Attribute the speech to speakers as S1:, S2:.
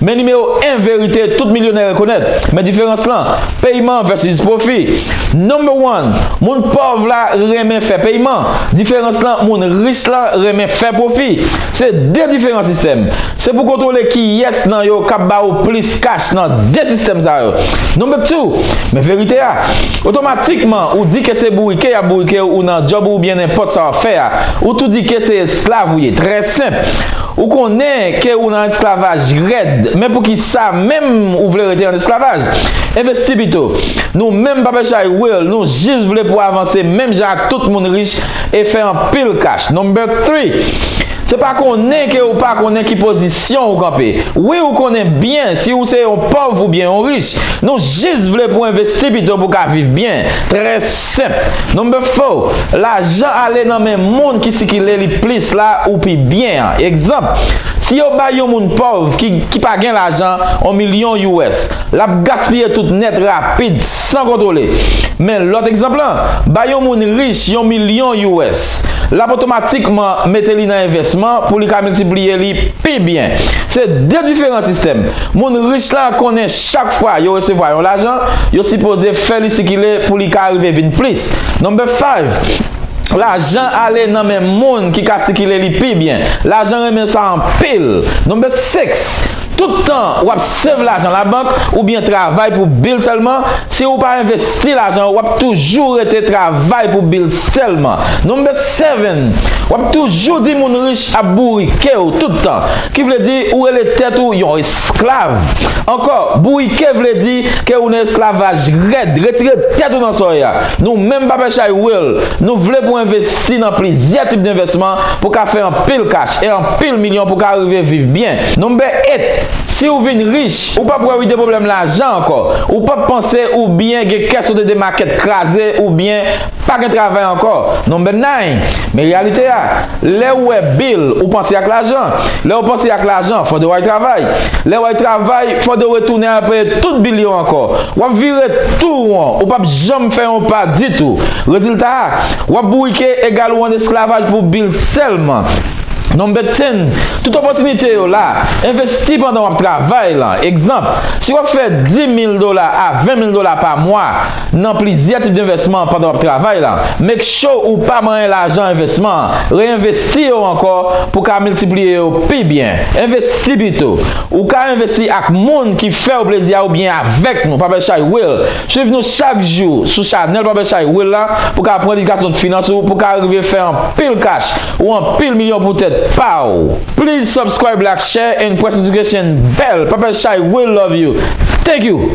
S1: Men nimewo 1 verite tout milyonè rekonèt, men diferans lan, peyman vèsis pwofi. Number one, moun pòv la renmen fè peyman, diferans lan moun rich la renmen fè pwofi. Se 2 diferan sistèm. Se pou kontwole kiyès nan yo kap ba ou plis kach nan 2 sistèm sa yo. Number two, men verite a, otomatikman ou di ke se bourike yap bourike ou nan djòb ou oubyen nenpòt sa wap fè a, ou tou di ke se esklav ou ye. Trè senp. Ou konnen ke ou nan esklavaj rèd, men poukisa menm ou vle rete an esklavaj? Envesti pito. Nou menm pa pè chay will, nou jis vle pou avanse menm jan ak tout moun rich e fè anpil kach. Number three, Se pa konnen ke ou pa konnen ki pozisyon ou kanpe. Wi ou konnen byen si ou se yon pòv oubyen yon rich. Nou jis vle pou envesti pito pou ka viv byen. Tres. Senp. Number four, lajan ale nan men moun ki sikile li plis la ou pi byen an. Egzanp, si yo bay yon moun pòv ki ki pa gen lajan on milyon us, l ap gaspiye tout nèt rapid san kontwole. Men lòt egzanp lan, bay yon moun rich yon milyon us, l ap otomatikman mete li nan envèsman pou li ka miltipliye li pi byen. Se de diferan sistèm. Moun rich lan konnen chak fwa yo resevwa yon lajan, yo sipoze. fè li sikile pou li ka rive vin plis. Number five, Lajan ale nan men moun ki ka sikile li pi byen. Lajan renmen sa anpil. Number six, Tout tan w ap save lajan labank oubyen travay pou bil sèlman, si ou pa envesti lajan ou w ap toujou rete travay pou bil sèlman. Number seven, W ap toujou di moun rich ap bourike ou tout tan. Ki vle di ou rele tèt ou yon Sklav. Ankò, bourike vle di ke ou nan esklavaj rèd, retire tèt ou nan sòy a. Nou menm Papè Chay Will, nou vle pou envesti nan plizyè tip denvèsman pou ka fè anpil kach e anpil milyon pou ka rive viv byen. Number 8, Si ou vin rich, ou pap wè wi de pwoblèm lajan ankò. Ou pap panse oubyen gen kè sote de makèt kraze oubyen. Pa gen travay ankò non Ben Nine, men reyalite a, lè ou wè bil ou panse ak lajan, lè ou panse ak lajan fòde w al travay, lè w al travay fòde w retounen al peye tout bil yo ankò, w ap vire tou won ou p ap janm fè yon pa ditou, rezilta a, w ap bourike egal ou an esklavaj pou bil sèlman. Number Ten, Tout opòtinite yo la, envesti pandan w ap travay lan, egzanp, si w ap fè 10 mil dola a 20 mil dola pa mwa, Nan plizyè tip denvèsman pandan w ap travay la, make sure ou pa manyen lajan envèsman an, reenvesti yo ankò pou ka miltipliye yo pi byen. Envesti pito. Ou ka envesti ak moun ki fè w plezi a oubyen avèk nou, Papa Echay Will. Swiv nou chak jou sou chanèl Papa Echay Will la pou ka pran edikasyon finans ou pou ka rive fè anpil kach ou anpil milyon pou tèt pa w. Please subscribe like share and press notification bell Papa Echay Will love you Thank you!